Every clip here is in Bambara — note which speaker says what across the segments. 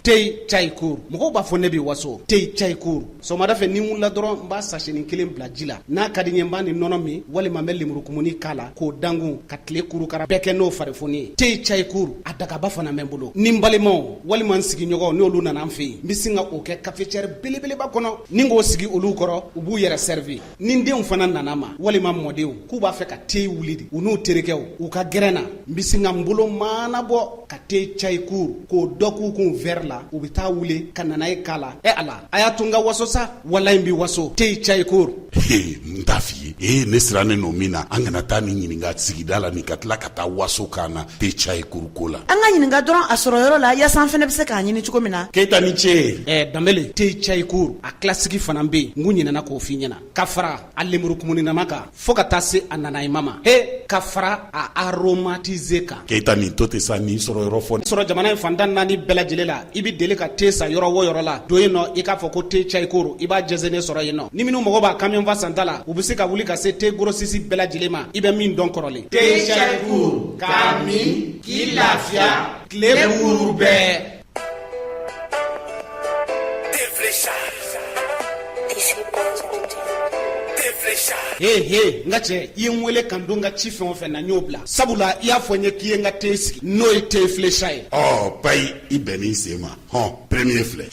Speaker 1: tei cayikur mɔgɔw b'a fɔ ne bɛ waso tei cayikur sɔgɔmada fɛ ni n wulila dɔrɔn n b'a sasɛnin kelen bila ji la n'a ka di n ye n b'a ni nɔnɔ min walima n bɛ lemurukumuni k'a la k'o dangun ka tile kurukara bɛɛ kɛ n'o farifoni ye tei cayikur a dagaba fana bɛ n bolo ni n balimaw walima n sigiɲɔgɔnw n'olu nana n fɛ yen n bɛ sin ka o kɛ kafecɛri belebeleba kɔnɔ ni k'o sigi olu kɔrɔ u b'u yɛrɛ sɛrivi ni n denw fana nana n ma walima mɔdenw k'u b'a fɛ ka te wuli de u n'u terikɛw u ka gɛrɛn na n bɛ sin ka n bolo maanabɔ ka te cayi kur k'o dɔ k'u kun vɛri la u bɛ t'a wuli ka nanaye k'a la e ala a y'a to n ka waso sa walayi n bɛ waso te cayi kur n t'a
Speaker 2: f'i ye ee ne sirannen don min na an kana taa nin ɲininka sigida la ni ka tila ka taa waso k'an na te cayi kur ko la an ka ɲininka dɔrɔn a
Speaker 3: sɔrɔyɔrɔ la yaasa an fana bɛ se k'a ɲini cogo min na keyita ni ce
Speaker 2: ɛɛ danbele te cayi
Speaker 1: kur Kilasiki fana bɛ yen n kun ɲinɛna k'o fɔ i ɲɛna ka fara a lemurukumuninama kan fo ka taa se a nanayema ma he ka fara a aromatize kan keyita nin to ten sa ni
Speaker 2: sɔrɔyɔrɔ fɔ sɔrɔ jamana in fan tan ni naani
Speaker 1: bɛɛ lajɛlen la i bɛ deli ka te san yɔrɔ o yɔrɔ la don yen nɔ i k'a fɔ ko te cayi kur i b'a jɛnsɛnnen sɔrɔ yen nɔ ni minnu mako b'a kamiyɔnfa santa la u bɛ se ka wuli ka se te gorosisi bɛɛ lajɛlen ma i bɛ min dɔn kɔrɔlen te cayi
Speaker 4: kur k'a min k'i lafiya tile kuuru
Speaker 1: bɛɛ ee he n ka cɛ i ye n wele kan don n ka ci fɛn o fɛn na n y'o bila sabula i y'a fɔ n ye k'i ye n ka te sigi n'o ye te filesa ye ɔ payi i
Speaker 2: bɛnn'i sen ma hɔn premier filɛ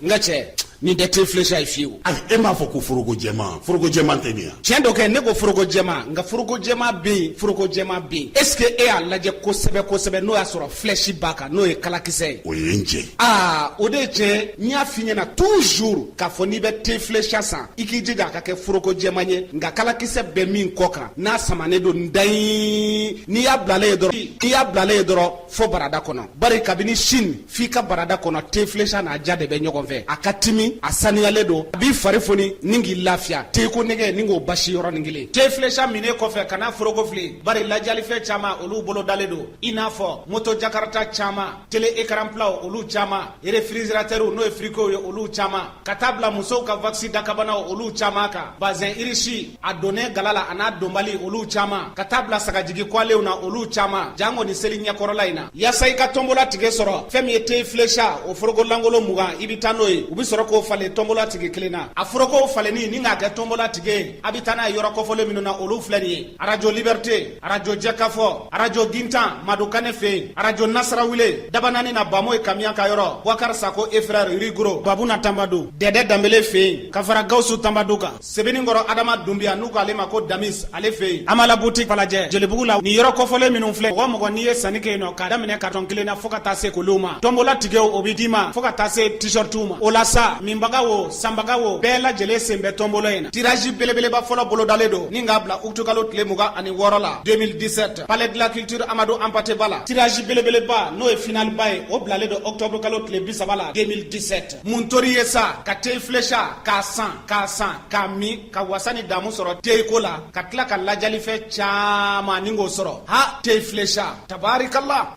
Speaker 1: n ka cɛ nin tɛ te filɛsa ye fiyewu ayi e m'a fɔ ko
Speaker 2: foroko jɛman foroko jɛman tɛ nin ya tiɲɛ don kɛ ne ko
Speaker 1: foroko jɛman nka foroko jɛman bɛ yen foroko jɛman bɛ yen est ce que e y'a lajɛ kosɛbɛ kosɛbɛ n'o y'a sɔrɔ filɛsi b'a kan n'o ye kalakisɛ ye o ye n jɛ
Speaker 2: aa o de ye
Speaker 1: tiɲɛ n y'a f'i ɲɛna toujours k'a fɔ n'i bɛ te filɛsa san i k'i jija a ka kɛ foroko jɛman ye nka kalakisɛ bɛ min kɔ kan n'a samanen don n dayi n'i y'a bilalen ye dɔrɔn n'i y'a bilalen ye dɔrɔn fo barada kɔnɔ bari kabini sini f'i ka barada kɔnɔ tefilesa n'a diya de bɛ ɲɔgɔn fɛ a ka timi a saniyalen don a b'i fari foni ni k'i lafiya teko nege ni k'o basi yɔrɔnin kelen tefilesa minnen kɔfɛ kana foroko fili bari ladiyalifɛn caman olu bolodalen don i n'a fɔ moto jakarata caman tele ekaranpilaw olu caman refiriziratɛriw n'o ye firikow ye olu caman ka taa bila musow ka vakisi dakabanaw olu caaman kan bazɛn irisi a donnen gala la an'a donbali olu caaman ka taa bila sagajigi kwalenw na olu caaman janko nin seli ɲɛkɔrɔla in na yaasa i ka tɔnbola tikɛ sɔrɔ fɛn min ye tei filesa o foroko lankolon mugan i be taa n'o ye u be sɔrɔ k'o falen tɔnbola tikɛ kelen na a forokow falenni ni k'a kɛ tɔnbola tikɛ a be taa n'a ye yɔrɔ kɔfɔlen minnu na olu filɛ nin ye arajo libɛrite arajo jɛkafɔ arajo gintan madu kane fɛ yen arajo nasarawule dabanani na bamoye kamiya ka yɔrɔ bubakar sako et frères rigro babuna tanbadu dɛdɛ danbele fɛ yen ka fara gawusu tanbadu kan sebenikɔrɔ adama dunbiya n'u ko ale ma ko damis ale fɛ yen amala butiki falajɛ jelibugu la nin yɔrɔ kɔfɔlen minnu filɛ mɔgɔ mɔgɔ n'i ye sanni kɛ yen nɔ k'a daminɛ karitɔn kelen na fo ka taa se koliw ma tɔnbola tigɛw o bɛ d'i ma fo ka taa se t-shirtiw ma o la sa minbaga wo sanbaga wo bɛɛ lajɛlen sen bɛ tɔnbola in na tirazi belebeleba fɔlɔ bolodalen don ni k'a bila utukalo tile mugan ani wɔɔrɔ la 2017 palais de la culture amadu anpate ba la tirazi belebeleba n'o ye finaliba ye o bilalen don octobre kalo tile bi saba la 2017 mun tor'i ye sa ka teyi filesa k'a san k'a san k'a min ka wasa ni damu sɔrɔ teyiko la ka tila ka ladiyalifɛn caman ni k'o sɔrɔ ha teyi filesa tabarikala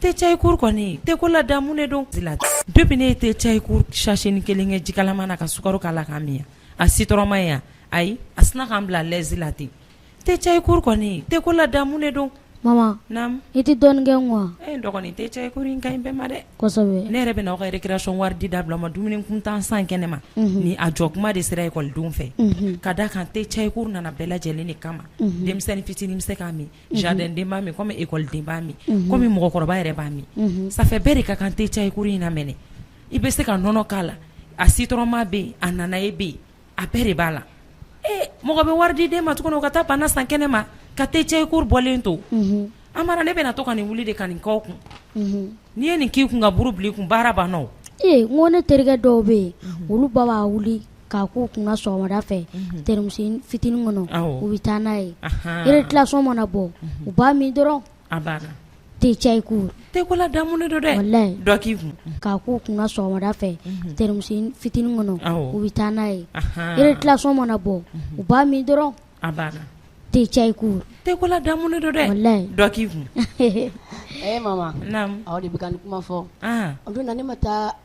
Speaker 5: Te Çaykur kɔni teko la damu de don depuis ne ye te Çaykur sachet nin 1 kɛ ji kalama na ka sukaro k'a la k'a min a sitɔrɔma ma ye walayi a sinna ka n bila à l'aise la ten te Çaykur kɔni teko la damu de don maman naamu
Speaker 6: i tɛ
Speaker 5: dɔɔnin kɛ n kun
Speaker 6: wa ee n dɔgɔnin te Çaykur
Speaker 5: in ka ɲi bɛɛ ma dɛ kɔsɛbɛ ne yɛrɛ bɛna aw
Speaker 6: ka
Speaker 5: récréation wari di dabila aw ma dumuni kuntan san kɛnɛ ma unhun ni a jɔ kuma de sera école denw fɛ unhun ka d'a kan te Çaykur nana bɛɛ lajɛlen de kama unhun denmisɛnnin fitinin bɛ se k'a min Jardin den b'a min kɔmi ekɔliden b'a min kɔmi mɔgɔkɔrɔba yɛrɛ b'a min sanfɛ bɛɛ de ka kan te Çaykur in na mɛn i bɛ se ka nɔnɔ k'a la a sitɔrɔma bɛ yen a nanaye bɛ yen a bɛɛ de b'a la ee mɔgɔ bɛ wari di den ma tuguni ka taa bana san kɛnɛ ma ka te Çaykur bɔlen to a mara ne bɛna to ka nin wuli de ka nin k'aw kun n'i ye nin k'i kun ka buuru bila i kun baara banna n ko ne terikɛ
Speaker 6: dɔw bɛ yen olu ba b'a wuli k'a k'u kun sɔgɔmada fɛ tɛrimusi fitinin kɔnɔ u bɛ taa n'a ye récréation mana bɔ u b'a min dɔrɔn te Çaykur teko la damu
Speaker 5: don dɔ k'i kun
Speaker 6: k'a
Speaker 5: k'u kun
Speaker 6: sɔgɔmada fɛ tɛrimusi fitinin kɔnɔ u bɛ taa
Speaker 5: n'a
Speaker 6: ye récréation
Speaker 5: mana
Speaker 6: bɔ u b'a min
Speaker 5: dɔrɔn te Çaykur
Speaker 6: teko la
Speaker 5: damu don dɔ k'i kun
Speaker 7: de
Speaker 5: bɛ kuma fɔ
Speaker 7: o don na ne ma
Speaker 5: taa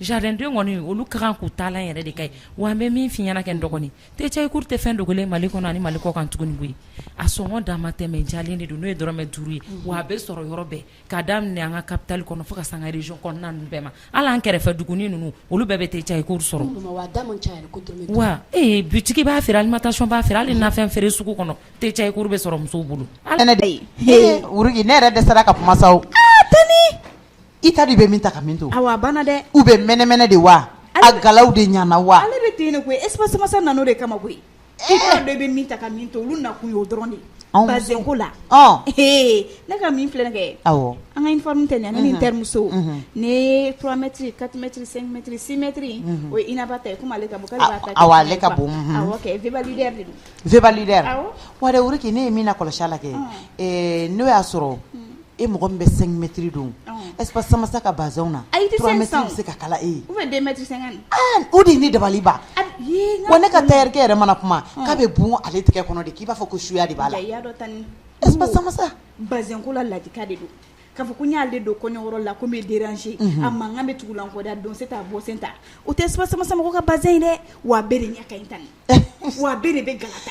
Speaker 5: Jardin den kɔni olu ka kan k'u taalan yɛrɛ de k'a ye wa an bɛ min f'i ɲɛna kɛ dɔgɔnin te Çaykur tɛ fɛn dogolen mali kɔnɔ ni mali kɔkan tuguni koyi a sɔngɔ dan ma tɛmɛ jalen de don n'o ye dɔrɔmɛ duuru ye wa a bɛ sɔrɔ yɔrɔ bɛɛ k'a daminɛ an ka kapitali kɔnɔ fo ka se an ka région kɔnɔna bɛɛ ma hali an kɛrɛfɛ dugu ninnu olu bɛɛ bɛ te Çaykur
Speaker 7: sɔrɔ wa ee
Speaker 5: bitigi b'a feere alimentation b'a feere hali nafɛn feere sugu kɔnɔ te Çaykur bɛ sɔrɔ musow bolo ala ne
Speaker 3: yɛrɛ dɛsɛra ka kuma
Speaker 8: I ta de
Speaker 3: bɛ min ta ka min to awa banna dɛ u
Speaker 8: bɛ mɛnɛmɛnɛ de
Speaker 3: wa a galaw de ɲana wa ale bɛ ten de koyi espace
Speaker 8: Samasa nana o de kama koyi e bɛ bɛ min ta ka min to olu nakun ye o dɔrɔn de anw ka bazɛnko la ee ne ka min filɛ kɛ awɔ an ka
Speaker 3: uniforme tɛ
Speaker 8: ɲa ne ni terimuso ne trois mètres quatre mètres cinq mètres six mètres o ye Inaba ta ye comme ale
Speaker 3: ka ale ka bon v v wɛrɛ k'
Speaker 8: ne ye
Speaker 3: min na kɔlɔsi a la kɛ n'o y'a sɔrɔ e mɔgɔ min bɛ cinq mètres don espace Samasa ka bazɛn na a bɛ se
Speaker 8: ka
Speaker 3: kala
Speaker 8: e ye o de ye ne dabali
Speaker 3: ban wa ne ka
Speaker 8: tayɛrikɛ yɛrɛ
Speaker 3: mana kuma k'a bɛ bun ale tigɛ kɔnɔ de k'i b'a fɔ ko suya de b'a la ko la
Speaker 8: ladi de don k'a fɔ ko n y'ale don kɔɲɔ la ko n bɛ déranger a mankan bɛ tugu la kɔda don se t'a bɔ sen ta o tɛ espace Samasa mɔgɔ ka bazɛn ye dɛ wa a bɛɛ de ɲɛ ka ɲi Tani wa bɛɛ de bɛ gata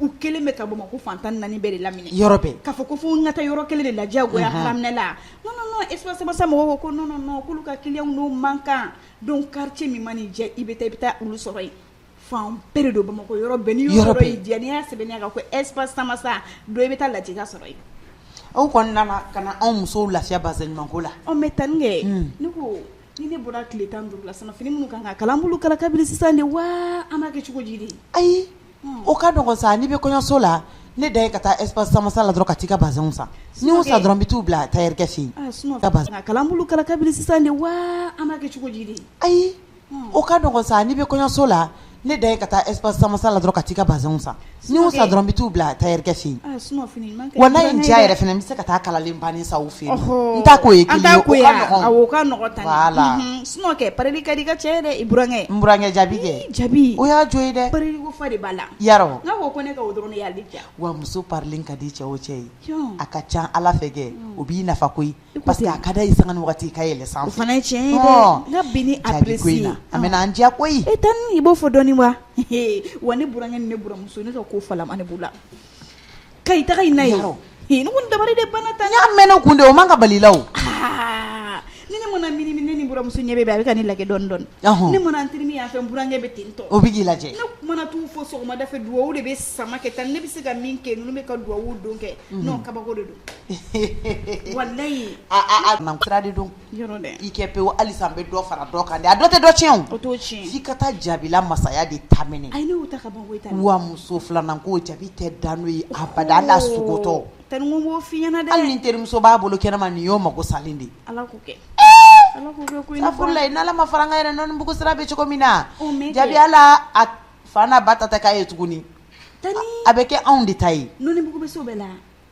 Speaker 8: U kɛlen bɛ ka Bamakɔ fan tan ni naani bɛɛ de lamini yɔrɔ bɛɛ k'a fɔ ko
Speaker 3: fo n ka taa
Speaker 8: yɔrɔ kelen de la diyagoya haraminɛ la espace Samasa mɔgɔw ko non k'olu ka client n'o man kan donc quartier min mana i diya i bɛ taa i bɛ taa olu sɔrɔ yen fan bɛɛ don bamakɔ yɔrɔ bɛɛ ni yɔrɔ y'i diya
Speaker 3: sɛbɛn
Speaker 8: kan ko espace Samasa don i bɛ taa lajɛ k'a sɔrɔ yen aw
Speaker 3: kɔni nana ka na anw musow lafiya bazɛn ɲumanko la o mɛn Tani
Speaker 8: kɛ ne ko ni ne bɔra tile tan ni duuru la fini minnu kan ka kala n b'olu kala kabini sisan de wa an b'a kɛ cogo di de ayi
Speaker 3: O ka dɔgɔ sa n'i bɛ kɔɲɔso la ne da ye ka taa espace Samasa la dɔrɔn ka taa i ka bazɛnw san ni n y'u san dɔrɔn n bɛ taa u bila tayɛrikɛ fɛ yen kala n
Speaker 8: b'olu kala
Speaker 3: kabiri
Speaker 8: sisan de wa an b'a kɛ cogo di de ayi o
Speaker 3: ka dɔgɔ sa n'i bɛ kɔɲɔso la ne da ye ka taa espace Samasa la dɔrɔn ka taa i ka bazɛnw san ni n y'u san dɔrɔn n bɛ taa u bila tayɛrikɛ fɛ yen wa n'a
Speaker 8: ye n diya yɛrɛ fana
Speaker 3: n bɛ se ka taa kalalen bannen san u fɛ yen n t'a ko ye ka
Speaker 8: la Sinon
Speaker 3: kɛ parili ka
Speaker 8: di i ka cɛ ye dɛ i burankɛ n burankɛ jaabi
Speaker 3: kɛ jaabi o y'a jo ye dɛ fa de b'a
Speaker 8: la Yarɔ n'a ko ko ne ka
Speaker 3: o dɔrɔn
Speaker 8: de y'a diya wa muso parilen ka
Speaker 3: di cɛ o cɛ ye a ka ca ala
Speaker 8: fɛ
Speaker 3: kɛ o b'i nafa koyi parce que a ka da
Speaker 8: i sanga ni waati i
Speaker 3: ka yɛlɛ sanfɛ fana
Speaker 8: cɛ ka bin ni
Speaker 3: apprécier na
Speaker 8: a
Speaker 3: mana
Speaker 8: an diya
Speaker 3: koyi Tani i b'o fɔ dɔɔni
Speaker 8: wa wa ne burankɛ ni ne buramuso ne ka ko fa b'u la Ka i taga i na ye Yarɔ. Ee, ne
Speaker 3: kɔni dabali
Speaker 8: de banna Tani n y'a mɛnna kun de o
Speaker 3: man ka balila o Aa, ni
Speaker 8: ne mana mini mini ne ni buramuso ɲɛ bɛ bɛn a bɛ ka ne lagɛ dɔɔni dɔɔni Ɔhɔn. ne mana n terimi
Speaker 3: yan fɛ n
Speaker 8: burankɛ bɛ ten tɔ o bɛ k'i lajɛ ne
Speaker 3: mana t'u
Speaker 8: fo sɔgɔmada fɛ duwawu de bɛ sama kɛ Tani ne bɛ se ka min kɛ ninnu bɛ ka duwawu don kɛ non kabako de don walayi a a a na sira
Speaker 3: de don i kɛ
Speaker 8: pewu halisa n
Speaker 3: bɛ dɔ fara dɔ kan dɛ a dɔ tɛ dɔ tiɲɛ f'i ka
Speaker 8: taa
Speaker 3: Jaabila masaya de
Speaker 8: ta minɛ wa muso filanan ko
Speaker 3: jaabi tɛ da n'o ye abada ala sugutɔ
Speaker 8: hali ni terimuso b'a
Speaker 3: bolo kɛnɛma nin y'o mako salen
Speaker 8: de safurulayi n' ala ma fara
Speaker 3: an kan yɛrɛ Nɔnibugu sira bɛ cogo min na jaabi ala
Speaker 8: a
Speaker 3: fa n'a ba ta tɛ k'a ye tuguni a
Speaker 8: bɛ kɛ anw
Speaker 3: de ta ye bɛ la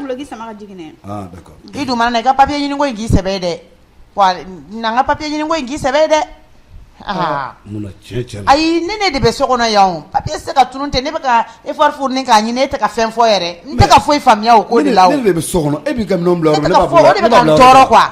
Speaker 3: Duloki
Speaker 8: sama ka jigin i dun
Speaker 9: mana i ka papiye
Speaker 3: ɲini ko in k'i sɛbɛ dɛ wa na ka papiye ɲini ko in k'i sɛbɛ dɛ
Speaker 9: aa ayi ne ne de bɛ
Speaker 3: so kɔnɔ yan papiye tɛ se ka tunun ten ne bɛ ka effort fournir k'a ɲini e tɛ ka fɛn fɔ yɛrɛ n tɛ ka foyi faamuya o ko de la e bɛ so kɔnɔ e bɛ ka
Speaker 9: bila
Speaker 3: o de bɛ ka n tɔɔrɔ quoi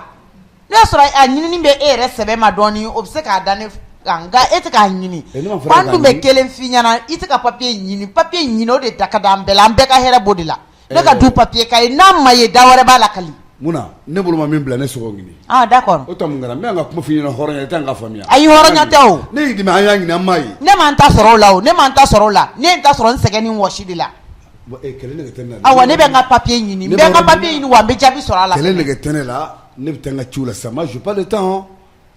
Speaker 3: ne y'a sɔrɔ a ɲinini bɛ e yɛrɛ sɛbɛ ma dɔɔnin o bɛ se k'a da ne nka e tɛ k'a ɲini an dun bɛ kelen f'i ɲɛna i tɛ ka papiye ɲini papiye ɲini o de da ka di an bɛɛ la an bɛɛ ka hɛrɛ b'o de la ne ka du papiye ka ye n'a ma ye da wɛrɛ b'a la kali mun na ne bolo ma
Speaker 9: min bila ne tɛ se k'o ɲini ah d'accord o tuma
Speaker 3: n kɛra n bɛ ka
Speaker 9: kuma f'i ɲɛna hɔrɔnya i tɛ n ka faamuya ayi hɔrɔnya tɛ
Speaker 3: o ne y'i dɛmɛ an y'a ɲini
Speaker 9: an m'a ye ne ma n ta sɔrɔ o
Speaker 3: la o ne ma n ta sɔrɔ o la ne ye n ta sɔrɔ n sɛgɛn ni wɔsi de la
Speaker 9: awa ne bɛ n ka papiye
Speaker 3: ɲini n bɛ n ka papiye ɲini wa n bɛ jaabi sɔrɔ a la kɛlɛ nege tɛ ne la
Speaker 9: Ne bɛ taa n ka ci la sa ma j'ai pas le temps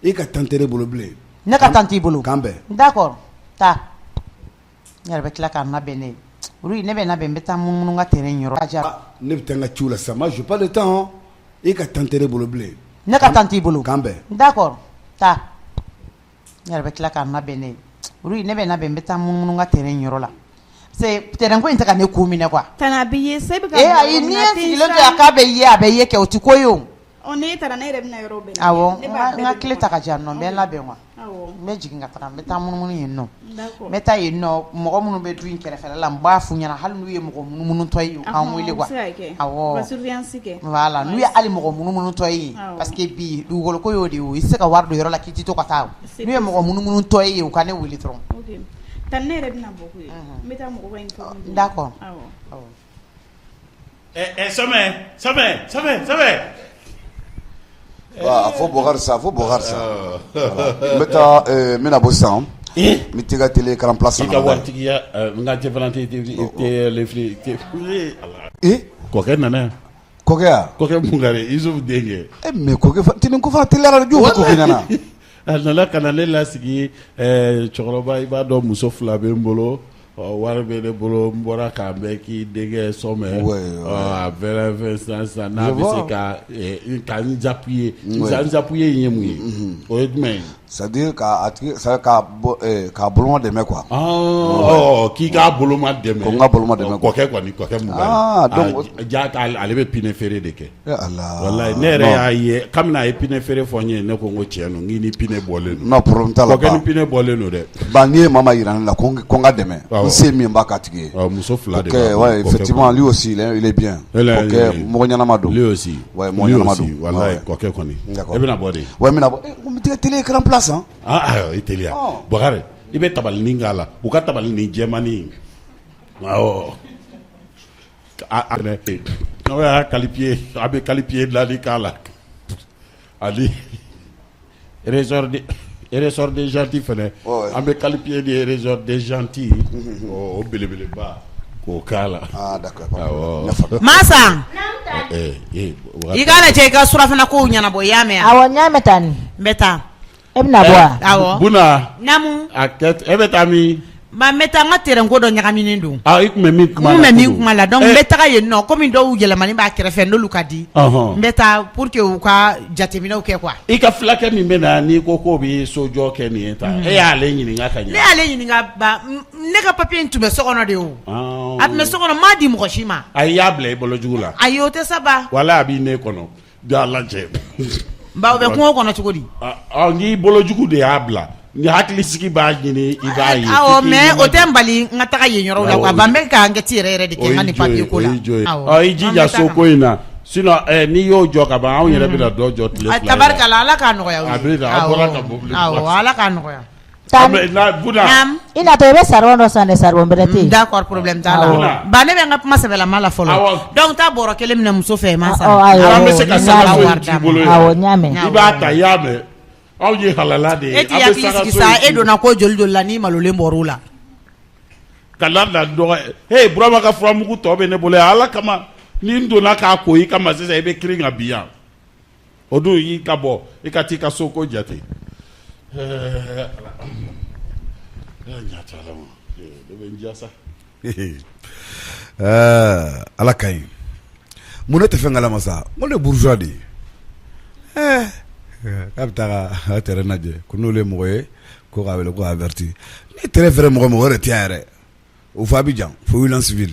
Speaker 9: e ka temps tɛ ne bolo bilen ne ka temps t'i
Speaker 3: bolo k'an bɛn d'accord
Speaker 9: taa
Speaker 3: i yɛrɛ bɛ tila ka na bɛn ne olu ne bɛ na bɛn n bɛ taa munun n ka terrain ne bɛ taa n
Speaker 9: ka ci la sa ma j'ai pas le temps e ka temps tɛ ne bolo bilen ne ka temps t'i bolo
Speaker 3: k'an bɛn d'accord
Speaker 9: taa
Speaker 3: I yɛrɛ bɛ tila ka na bɛn ne ye ne bɛ na bɛn n bɛ taa munumunu n ka terrain yɔrɔ la c'est terrain ko in tɛ ka ne ko minɛ
Speaker 8: quoi bɛ
Speaker 3: a bɛ ye a bɛ kɛ o tɛ ko
Speaker 8: ye ne taara ne
Speaker 3: bɛ ta ka jan bɛɛ labɛn wa n bɛ jigin ka
Speaker 8: taa n bɛ
Speaker 3: taa munumunu yen nɔ d'accord n bɛ taa
Speaker 8: yen
Speaker 3: nɔ mɔgɔ minnu bɛ du in kɛrɛfɛ la n b'a f'u ɲɛna hali n'u ye mɔgɔ munumunutɔ ye u k'an wele quoi ɔnhɔn o bɛ se ka kɛ awɔ u ka surveillance kɛ
Speaker 8: voilà n'u ye hali mɔgɔ
Speaker 3: munumunutɔ ye yen awɔ parce que bi dugukolo ko y'o de ye o i tɛ se ka wari don yɔrɔ la k'i tɛ to ka taa o c'est n'u ye mɔgɔ munumunutɔ ye yen u ka ne wele dɔrɔn ok Tani
Speaker 8: ne yɛrɛ bɛna bɔ koyi n bɛ taa mɔgɔba informer d'accord awɔ Eh, eh,
Speaker 4: Sɔmɛ, Sɔmɛ, Sɔmɛ,
Speaker 2: Sɔmɛ. Aa a fɔ Bukari sa, a fɔ Bukari sa. N bɛ taa n bɛna bɔ sisan. N bɛ t'i ka tele écran plasma lajɛ. I ka
Speaker 4: waritigiya n ka jɛfarɛnti i tɛ le fili i tɛ ee Ala. Ee kɔkɛ nana yan. Kɔkɛ wa? Kɔkɛ Bukari, Isufu denkɛ. Ee mais kɔkɛ,
Speaker 2: tele nin ko fana teliyara dɛ, jɔ kɔkɛ nana. A nana ka
Speaker 4: na ne lasigi cɛkɔrɔba i b'a dɔn muso fila bɛ n bolo wari bɛ ne bolo n bɔra k'a bɛ k'i denkɛ Sɔmɛ a bɛ sisan sisan n'a bɛ se ka ka n appuyer n appuyer ye mun ye o ye jumɛn
Speaker 2: ye c'est-à-dire ka boloma dɛmɛ
Speaker 4: quoi k'i k'a boloma dɛmɛ ko n ka boloma dɛmɛ kɔkɛ
Speaker 2: kɔni kɔkɛ donc jaa ale
Speaker 4: bɛ pinɛ feere de kɛ
Speaker 2: ne yɛrɛ
Speaker 4: y'a ye kabini a ye pinɛ feere fɔ n ye ne ko ko cɛ n ni pinɛ bɔlen
Speaker 2: ni pinɛ bɔlen don
Speaker 4: dɛ n'i ye mama yira ne
Speaker 2: la ko n ka dɛmɛ se min ba ka tigi ye muso fila
Speaker 4: y'o
Speaker 2: mɔgɔ ɲɛnama don kɔkɛ
Speaker 4: kɔni e bɛna bɔ
Speaker 2: de karankura san i teri
Speaker 4: bakarijan i bɛ tabali nin k'a la u ka tabali ni jɛmani n'aw y'a kalifiye a bɛ kalifiye bilali k'a la ani rezridenzti fana an bɛ kalifiye de yɛrɛzdzti o belebeleba k' k'a
Speaker 2: la
Speaker 3: masa i k'a lajɛ ka surafana ko ɲɛnabɔ i y'a mɛn awɔ n y'a mɛn taa n
Speaker 10: bɛ taa
Speaker 3: E bɛna
Speaker 10: bɔ wa? Awɔ.
Speaker 3: Buna.
Speaker 4: Naamu. A
Speaker 3: kɛ t e bɛ
Speaker 4: taa min? Ba n bɛ taa n
Speaker 3: ka terrain ko dɔ ɲagaminen don. Aa i tun bɛ min kuma la. N tun bɛ
Speaker 4: min kuma la donc n
Speaker 3: bɛ taga yen nɔ comme dɔw yɛlɛmani b'a kɛrɛfɛ n'olu ka di. Ɔnhɔn. N bɛ taa pour que u ka jateminɛw kɛ quoi. I ka filakɛ min
Speaker 4: bɛ na n'i ko k'o bɛ sojɔ kɛ nin ye tan, e y'ale ɲininka ka ɲɛ wa? Ne y'ale
Speaker 3: ɲininka ba ne ka papier in tun bɛ so kɔnɔ de o. Ɔɔ. A tun bɛ so kɔnɔ n m'a di mɔgɔ si ma. Ayi i y'a bila i bolo
Speaker 4: jugu la.
Speaker 3: Ayi o
Speaker 4: tɛ sa ba. Walayi a bɛ
Speaker 3: ne kɔnɔ.
Speaker 4: Jaa
Speaker 3: lajɛ baw bɛ kungo kɔnɔ cogo di n'i
Speaker 4: bolojugu de y'a bila n'i hakili sigi b'a ɲini i b'a ye awɔ mais o tɛ
Speaker 3: n bali n ka taga yen yɔrɔ la quoi ba n bɛ ka enquête yɛrɛ yɛrɛ de kɛ ani papier ko la i jija so ko in
Speaker 4: na sinon n'i y'o jɔ ka ban anw yɛrɛ bɛna dɔ jɔ tabarikala ala
Speaker 3: k'a nɔgɔya ala
Speaker 4: k'a nɔgɔya I natɔ i bɛ
Speaker 10: saribon dɔ san saribon bɛrɛ tɛ d'accord problème
Speaker 3: t'a la ba ne bɛ ka kuma sɛbɛnbɛla la fɔlɔ donc taa bɔrɔ kelen minɛ muso fɛ
Speaker 4: masa e
Speaker 3: donna ko joli don la ne malolen
Speaker 4: la ka la dɔgɔ burama ka furamugu tɔ bɛ ne bolo ala kama ni n donna k'a ko i ka i bɛ kirin ka bin yan o dun i ka bɔ i ka t'i ka so ko jate ɛɛ ala ɛɛ ɲa t'a la ma ee ne bɛ
Speaker 9: n diya sa ɛɛ ala ka ɲi mun ne tɛ fɛn kalama sa n ko ne ye bourgeois de ye ɛɛ k'a bɛ taa ka a terrain lajɛ ko n'olu ye mɔgɔ ye ko k'a wele ko k'a averti ni terrain feere mɔgɔ o mɔgɔ o yɛrɛ tɛ yan yɛrɛ O fɔ Abidjan fo wuli sibi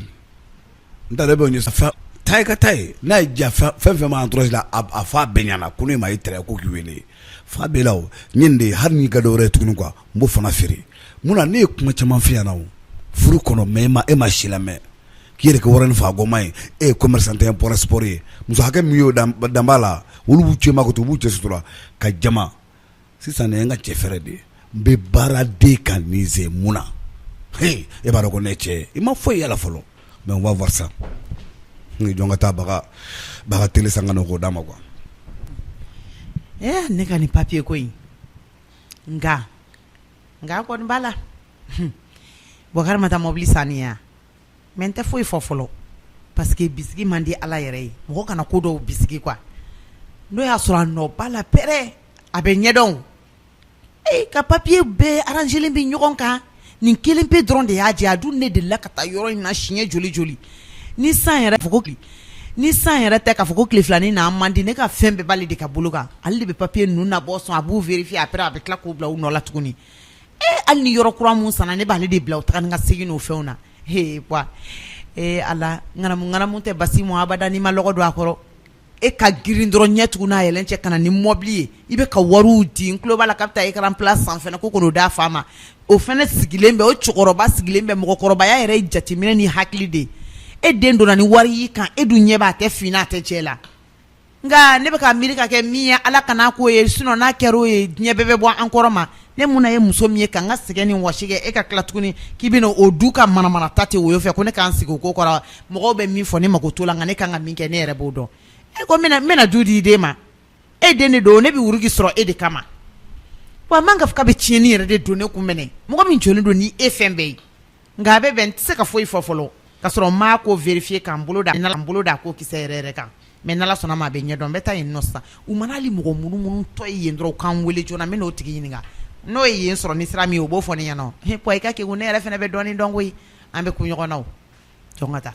Speaker 9: n da bɛ ta ka ta ye n'a ye ja fɛn fɛn ma entourage la a fan bɛɛ ɲɛna ko ne ma e tɛ ko k'i wele fan bɛɛ la yen de hali n'i ka dɔ wɛrɛ ye tuguni quoi n b'o fana feere mun na ne ye kuma caman f'i ɲɛna furu kɔnɔ mais e ma e ma si lamɛn k'i yɛrɛ kɛ wɛrɛ nin faa koma ye e ye commerçante import export ye muso hakɛ min y'o danba la olu b'u cɛ ma ko to u b'u cɛ sutura ka jama Sisan nin ye n ka cɛ fɛɛrɛ de ye n bɛ baara de ka nin ze mun na e b'a dɔn ko ne cɛ i ma foyi y'a la fɔlɔ mais on va voir ça n jɔn ka taa baba ka télé san ka n'o k'o d'a ma quoi
Speaker 3: ɛ ne ka nin papiye ko in nka nka kɔni b'a la Bokar ma taa mɔbili saniya mais n tɛ foyi fɔ fɔlɔ parce que bisigi man di ala yɛrɛ ye mɔgɔ kana ko dɔw bisigi quoi n'o y'a sɔrɔ a nɔ b'a la après a bɛ ɲɛdɔn ee ka papiye bɛɛ arrangelen bɛ ɲɔgɔn kan nin kelen pe dɔrɔn de y'a jɛ a dun ne delila ka taa yɔrɔ in na siɲɛ joli joli ni san yɛrɛ fo ni san yɛrɛ tɛ k'a fɔ ko tile filanin n'a man di ne ka fɛn bɛɛ b'ale de ka bolo kan ale de bɛ papiye ninnu nabɔ sɔn a b'u vérifier après a bɛ tila k'u bila u nɔ la tuguni Ee hali ni yɔrɔ kura min sanna ne b'ale de bila u taa ni ka segin n'o fɛnw na ee ala ŋanamuŋanamu tɛ basi mɔ abada n'i ma lɔgɔ don a kɔrɔ e ka girin dɔrɔn ɲɛ tugun n'a yɛlɛ cɛ ka na ni mɔbili ye i bɛ ka wari di n tulo b'a la k'a bɛ taa écran plat san fɛnɛ ko ka n'o d'a fa ma o fɛnɛ sigilen bɛ o cɛkɔrɔba sigilen bɛ mɔgɔkɔrɔbaya yɛrɛ jateminɛ ni hakili de e den donna ni wari y'i kan e dun ɲɛ b'a tɛ fin na a tɛ jɛ la Nka ne bɛ ka miiri ka kɛ min ye ala kana k'o ye sinon n'a kɛra o ye diɲɛ bɛɛ bɛ bɔ an kɔrɔ ma ne mun ye muso min ye ka n ka sɛgɛn ni wɔsi kɛ e ka tila tuguni k'i bɛna o du ka manamana ta ten o fɛ ko ne k'an sigi o ko kɔrɔ mɔgɔw bɛ min fɔ ne mako t'o la nka ne ka kan ka min kɛ ne yɛrɛ b'o dɔn e ko n bɛna du di i den ma e den de don ne bɛ wurudi sɔrɔ e de kama wa man ka fɔ k'a bɛ tiɲɛni yɛrɛ de don ne kun minɛ mɔgɔ min jɔlen don ni e fɛn bɛɛ ye Nka a bɛ bɛn n tɛ se ka foyi fɔ fɔlɔ ka sɔrɔ n m'a ko vérifier k'an bolo da ko kisɛ yɛrɛ kan mais n'ala sɔnna a ma a bɛ ɲɛdɔn n bɛ taa yen nɔ sisan u mana hali mɔgɔ munumunutɔ ye yen dɔrɔn u k'an wele joona n bɛ n'o tigi ɲininka n'o ye yen sɔrɔ ni sira min ye o b'o fɔ ɲɛna nɔn i ka kɛ ne yɛrɛ fana bɛ dɔɔnin dɔn koyi an bɛ kun ɲɔgɔn na o jɔn ka taa